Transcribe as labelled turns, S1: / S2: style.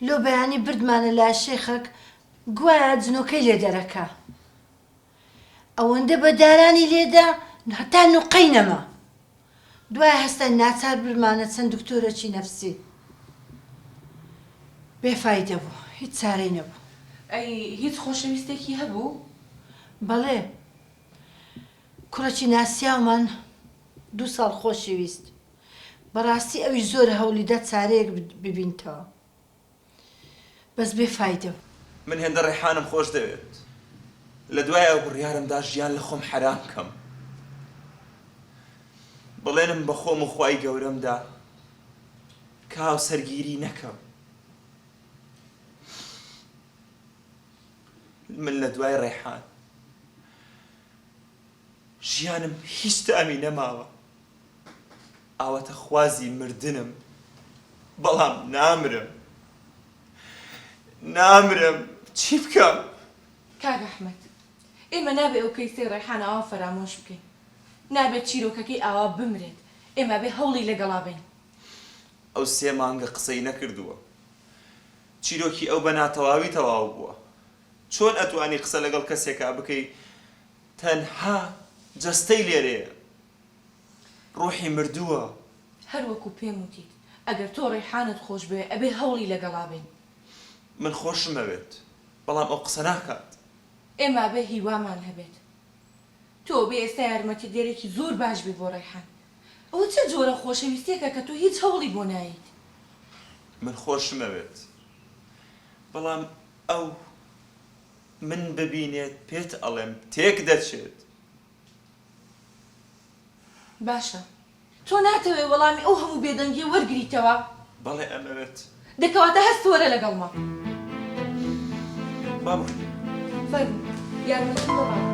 S1: لۆ بەیانی بردمانە لای شێخەک گوایا جنۆکەی لێ دەرەکا ئەوەندە بە دارانی لێدا هەتا نوقەی نەما دوای هەستاین ناچار برمانە چەند دکتۆرەکی نەفسی بێ فایدە بوو هیچ چارەی نەبوو. ئەی هیچ
S2: خۆشەویستێکی هەبوو؟ بەڵێ
S1: کوڕێکی ناسیاومان دوو ساڵ خۆشی ویست. بەڕاستی ئەویش زۆر هەولیدا چارەیەک ببینتەوە بەس بێ فایدە بوو. من هێندە ڕێحانم
S3: خۆش دەوێت لە دوای ئەو بڕیارم دا ژیان لە خۆم حەرام کەم بەڵێنم بە خۆم و خوای گەورەم دا کە هاوسەرگیری نەکەم من لە دوای ڕێحان ژیانم هیچ تامی نەماوە. ئاواتەخوازی مردنم بەڵام نامرم نامرم چی بکەم. کاک
S2: احمد ئێمە نابێ ئەو کەیسەی ڕێحان ئاوا فەرامۆش بکەین نابێ چیرۆکەکەی ئاوا بمرێت ئێمە ئەبێ هەوڵی لەگەڵا بەین. ئەو
S3: سێ مانگە قسەی نەکردووە چیرۆکی ئەو بە ناتەواوی تەواو بووە چۆن ئەتوانی قسە لەگەڵ کەسێکا بکەی تەنها جەستەی لێرەیە. ڕوحی مردووە. هەر وەکو
S2: پێم وتیت ئەگەر تۆ ڕەیحانەت خۆش بوێ ئەبێ هەوڵی لەگەڵا بەین. من
S3: خۆشم ئەوێت بەڵام ئەو قسە ناکات. ئێمە ئەبێ
S2: هیوامان هەبێت. تۆ ئەبێ ئێستا یارمەتیدەرێکی زۆر باش بی بۆ ڕەیحان. ئەوە چ جۆرە خۆشەویستیەکە کە تۆ هیچ هەوڵی بۆ نایەیت. من
S3: خۆشم ئەوێت بەڵام ئەو من ببینێت پێت ئەڵێم تێک دەچێت.
S2: باشە تۆ ناتەوێ وەڵامی ئەو هەموو بێدەنگیە وەرگریتەوە؟ بەڵێ ئەمەوێت.
S3: دە کەواتە هەست
S2: وەرە لەگەڵمە. با بڕۆین.
S3: فەرموو
S2: یارمەتیم بە با بکە.